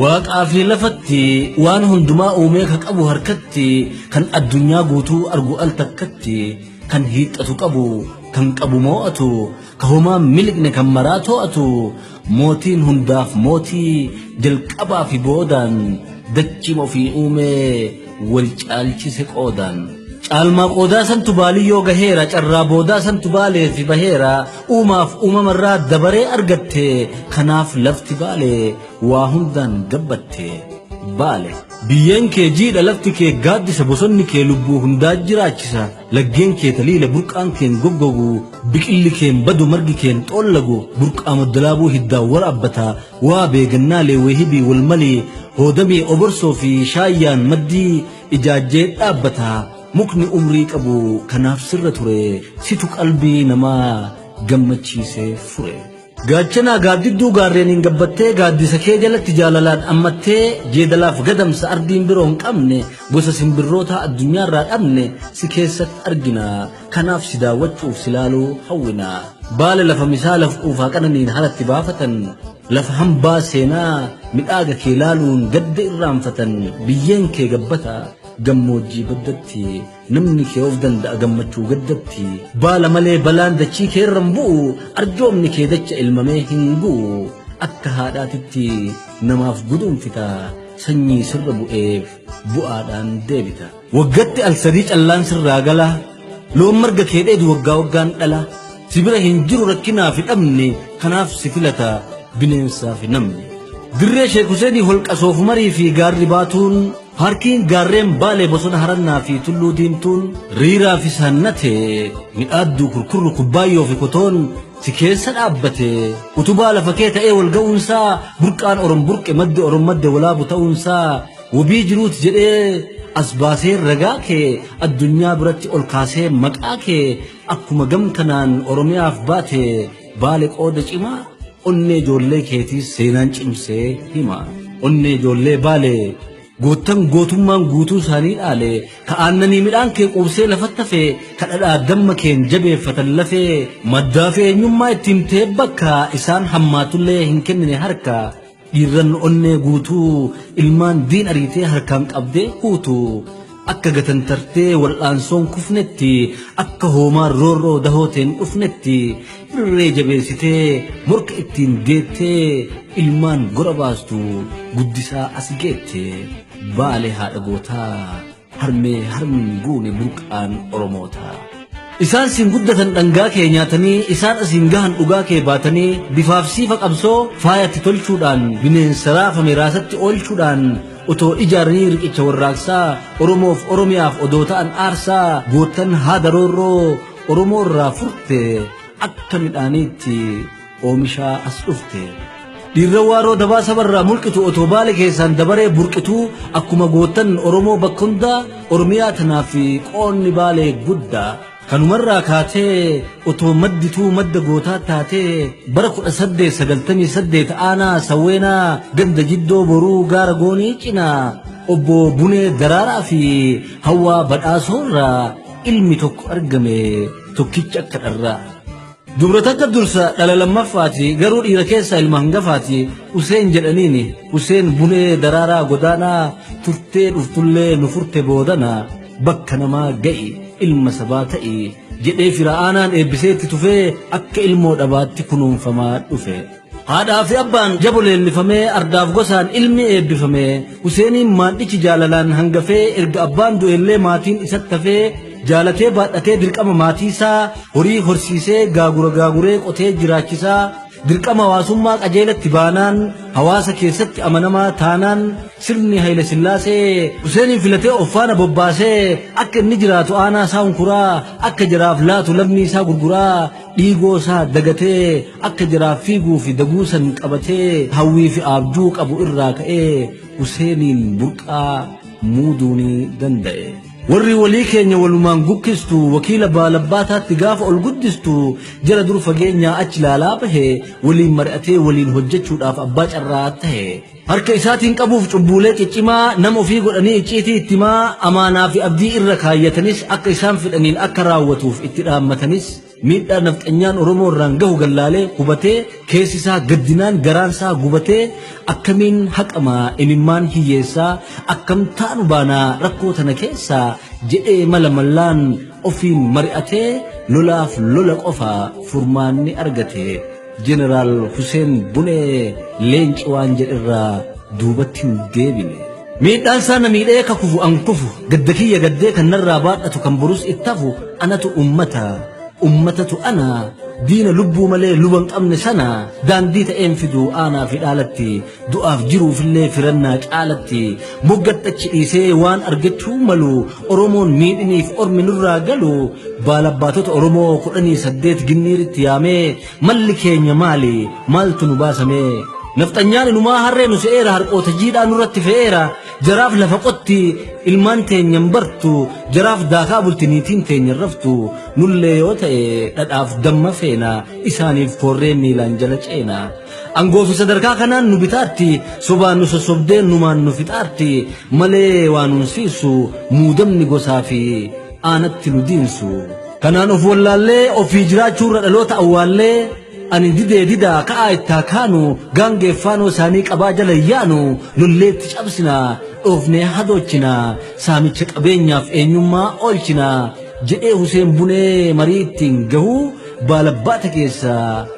Waaqaa fi lafatti waan hundumaa uumee ka qabu harkatti kan addunyaa guutuu argu al takkatti kan hiixxatu qabu kan qabu moo'atu ka homaa miliqne kan maraa too'atu mootiin hundaaf mootii jalqabaa fi boodaan dachima ofii uumee wal caalchise qoodaan. Caalmaa qoodaa santu baaliyyoo gaheera carraa boodaa santu baaleefi baheera uumaaf uumamarraa dabaree argatte kanaaf lafti baale waa hundaan gabbatte baale. Biyyeen kee jiidha lafti kee gaaddisa bosonni kee lubbuu hundaa jiraachisa laggeen kee taliila burqaan keen goggogu biqilli keen badu margi keen xoollagu burqaa maddalaabuu hiddaan waraabbata Waa beegannaa leewweehibii wal malee hoodamee oborsoo fi shaayyaan maddii ijaajjee dhaabbata mukni umrii qabu kanaaf sirra ture situ qalbii namaa gammachiisee fure. Gaachanaa gaaddidduu gaarreeniin gabbattee gaaddisa kee jalatti jaalalaan ammattee jeedalaaf gadamsa ardiin biroo hin qabne gosa simbirrootaa addunyaarraa dhabne si keessatti argina. Kanaaf si daawwachuuf si laaluu hawwina. Baala lafa misaa laf quufaa qananiin haratti baafatan, lafa hambaa seenaa midhaaga kee laaluun gadda irraanfatan, biyyeen kee gabbata, gammoojjii baddatti, namni kee of danda'a gammachuu gaddatti, baala malee balaan dachii kee irra hin bu'u, arjoomni kee dacha ilmamee hin gu'u, akka haadhaatitti namaaf guduunfita, sanyii sirra bu'eef bu'aadhaan deebita. Waggatti al sadii callaan sirraa galaa loon marga kee dheedu waggaa waggaan dhalaa si bira hin jiru rakkinaa fi dhabne kanaaf si filata bineensaa fi namni. Dirree Sheek Huseenii holqa soofumarii fi gaarri baatuun paarkiin gaarreen baalee bosona harannaa fi tulluu diimtuun riiraa fi saannatee midhaadduu kurkurru kubbaayyoo fi kotoon si keessa dhaabbate utubaa lafa kee ta'ee wal ga'uunsaa burqaan orom burqe maddi orom madde walaabu ta'uunsaa Wobii jiruut jedhee as baasee ragaa kee addunyaa biratti ol kaasee maqaa kee akkuma gam kanaan Oromiyaaf baate baale qooda cimaa onnee ijoollee keetii seenaan cimsee hima. Onnee ijoollee baale goottan gootummaan guutuu isaanii dhaale ka aannanii midhaan kee quubsee lafatti hafe ka dhadhaa damma keen jabeeffatan lafee maddaa fi eenyummaa itti himtee bakka isaan hammaatullee hin kennine harka. Dhiirran onnee guutuu ilmaan diin ariitee harkaan qabdee huutu akka gatantartee wal'aansoon kufnetti akka hoomaan roorroo dahooteen dhufnetti irree jabeessitee morka ittiin deettee ilmaan gora baastu guddisaa as geette baale haadha gootaa Harmee harmi goone burqaan Oromootaa. Isaan siin guddatan dhangaa kee nyaatanii isaan asiin gahan dhugaa kee baatanii bifaaf siifa qabsoo faayatti tolchuudhaan bineensa raafame raasatti oolchuudhaan otoo ijaaranii riqicha warraaqsaa Oromoof Oromiyaaf odoo ta'an aarsaa goottan haada roorroo Oromoo irraa furte akka midhaaniitti Oomishaa as dhufte. Dhiirra waaroo dabaa sabarraa mulqitu otoo baale keessaan dabaree burqituu akkuma gootan Oromoo bakka hundaa Oromiyaa tanaa fi qoonni baalee guddaa. Kanumarraa kaatee otoo maddituu madda gootaa taatee bara 1898 aanaa sawweenaa ganda jiddoo boruu gaara goonii cinaa obbo Bunee Daraaraa fi Hawwaa Badhaasoorraa ilmi tokko argame tokkicha akka dharraa. Dubra takka dursa dhala lammaffaati garuu dhiira keessaa ilma hangafaati Useen jedhaniini Useen bulee daraaraa godaanaa turtee dhuftullee nu furte boodana bakka namaa ga'i ilma sabaa ta'i jedhee fira aanaan eebbisee itti tufee akka ilmoo dhabaatti kunuunfamaa dhufe. Haadhaa fi abbaan jabo leellifamee ardaaf gosaan ilmi eebbifame Huseeniin maandhichi jaalalaan hangafee erga abbaan du'ellee maatiin isatti hafee jaalatee baadhatee dirqama maatiisaa horii horsiisee gaagura gaaguree qotee jiraachisaa dirqama hawaasummaa qajeelatti baanaan hawaasa keessatti amanamaa taanaan sirni Hayila Sillaasee Huseeniin filatee of faana bobbaasee akka inni jiraatu aanaa isaa hunkuraa akka jaraaf laatu lammii isaa gurguraa dhiigoo isaa dagatee Akka jiraaf fiiguu fi daguu san qabatee hawwii fi aabjuu qabu irraa ka'ee Huseeniin burqaa muuduu ni danda'e. Warri walii keenya walumaan gukkistu wakiila baalabbaataatti gaafa ol guddistu jara dur fageenyaa achi laalaa bahe waliin mari'atee waliin hojjechuudhaaf abbaa carraa tahe. Harka isaatiin qabuuf cubbuulee ciccimaa nama ofii godhanii icciitii itti himaa amaanaa fi abdii irra kaayyatanis akka isaan fedhaniin akka raawwatuuf itti dhaammatanis Miidhaa nafxanyaan Oromoo irraan gahu gallaalee hubatee keessi isaa gaddinaan garaan isaa gubatee akkamiin haqama imimmaan hiyyeessaa akkam taanu baanaa rakkoo tana keessaa jedhee mala mallaan ofiin mari'atee lolaaf lola qofa furmaanni argate. Jeneraal Huseen Bunee leenci waan jedherraa duubatti hin deebine. Miidhaan isaa na miidhee akka kufu an kufu gadda kiyya gaddee kan narraa baadhatu kan borus itti hafu anatu ummata ummatatu ana diina lubbuu malee luba hin qabne sana daandii ta'een fidu aanaa fi dhaalatti Du'aaf jiruufillee firannaa caalatti moggadhachi dhiisee waan argachuu malu Oromoon miidhiniif ormi nurraa galu baalabbaatota Oromoo kudhanii saddeet ginniiritti yaamee malli keenya maali maaltu nu baasamee nafxanyaan inumaa harree nu se'eera harqoota jiidhaa nurratti fe'eera jaraaf lafa qotti ilmaan teenya hin bartu jaraaf daakaa bulti niitiin teenya hin raftu nullee yoo ta'e dhadhaaf damma feena isaaniif koorree miilaan jala ceena. Angoo fi sadarkaa kanaan nu bitaarti sobaan nu sossobdee numaan nu fixaarti malee waa nuun siisu muudamni gosaa fi aanatti nu diinsu. Kanaan of wallaallee ofii jiraachuu irra dhaloota awwaallee ani didee didaa ka'aa ittaa kaanu gaangee faanoo isaanii qabaa jala hin yaanu lolleetti cabsina dhoofnee hadoochina saamicha qabeenyaaf eenyummaa oolchina jedhee Huseen Bunee marii ittiin gahuu baalabbaata keessaa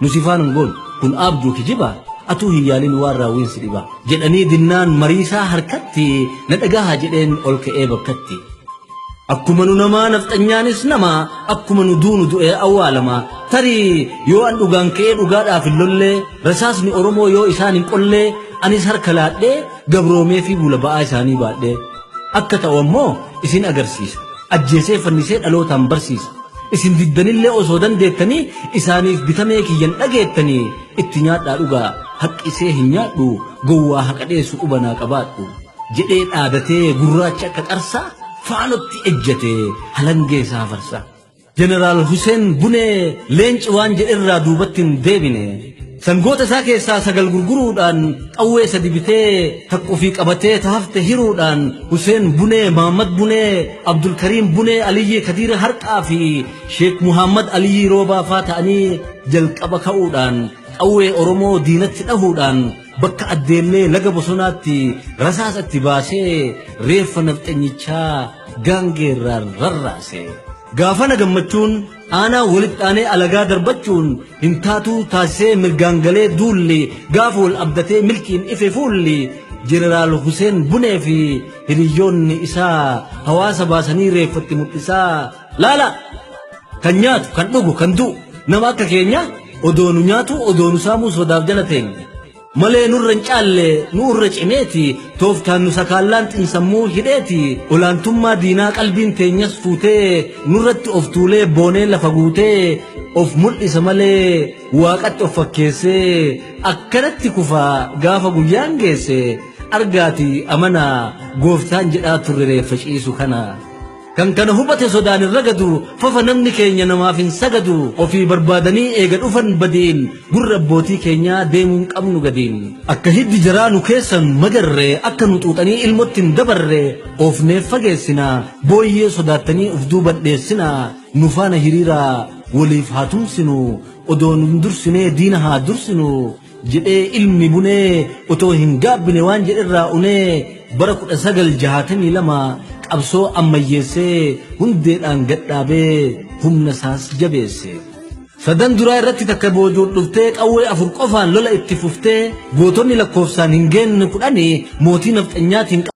Nuti ifaan hin goonu. Kun aabjuu kijibaa atuu hin yaalin waan raawwiin si dhibaa. Jedhanii dinnaan mariisaa harkatti na dhagahaa jedheen ol ka'ee bakkatti. Akkuma nu namaa nafxanyaanis nama akkuma nu duunu du'ee awwaalama. Tarii yoo an dhugaan ka'ee dhugaadhaaf hin lollee rasaasni Oromoo yoo isaan hin qollee anis harka laadhee gabroomee fi buula ba'aa isaanii baadhee. akka ta'u ammoo isin agarsiisa. Ajjeesee fannisee dhalootaan barsiisa. Isin diddanillee osoo dandeettanii isaaniif bitamee kiyyan dhageettanii itti nyaadhaa dhugaa haqqisee hin nyaadhu gowwaa haqa dheessu qubanaa qabaadhu jedhee dhaadatee gurraacha akka qarsaa faanotti ejjatee halangee isaa farsaa. Jeneraal Huseen Bunee leenci waan jedhe irraa duubatti hin deebine. Sangoota isaa keessaa sagal gurguruudhaan qawwee sadi bitee takka ofii qabatee ta hafte hiruudhaan Huseen Bunee, Mahammad Bunee, Abdulkariim Bunee, Aliyyii Kadiir Harqaa fi Sheek Muhammad Aliyyii Roobaa faa ta'anii jalqaba ka'uudhaan qawwee Oromoo diinatti dhahuudhaan Bakka addeellee laga bosonaatti rasaasa itti baasee reeffa nafxanyichaa gaangeerraan rarraase. Gaafana gammachuun aanaa walitti aanee alagaa darbachuun hin taatuu taasisee mirgaan galee duulli gaafa wal abdatee milkiin ife fuulli jeneraal Huseen Bunee fi hiriyyoonni isaa hawaasa baasanii reeffatti mul'isaa Laala kan nyaatu kan dhugu kan du'u nama akka keenyaa odoonu nyaatu odoonu saamuu sodaaf jala teenya. Malee nurra hin caalle nu irra cimeeti tooftaan nu sakaallaan xinsammuu hidheeti olaantummaa diinaa qalbiin teenyas fuutee nurratti of tuulee boonee lafa guutee of mul'isa malee waaqatti of fakkeessee akkanatti kufaa gaafa guyyaan geesse argaati amanaa gooftaan jedhaa turre reeffa ciisu kana. Kan kana hubate sodaan hin ragadu fafa namni keenya namaaf hin sagadu ofii barbaadanii eega dhufan badiin gurra abbootii keenyaa deemuun qabnu gadiin akka hiddi jaraa nu keessan magarre akka nu xuuxanii ilmotti hin dabarre oofneef fageessina booyyee sodaattanii of duubadheessina nu faana hiriiraa waliif haa tumsinu odoon hin dursinee diina haa dursinu jedhee ilmi bunee otoo hin gaabbine waan jedhe irraa unee bara 1962 qabsoo ammayyeessee hundeedhaan gadhaabee humna isaas jabeesse. Sadan duraa irratti takka boojuun dhuftee qawwee afur qofaan lola itti fuftee gootonni lakkoofsaan hin geenne kudhanii mootii nafxanyaatiin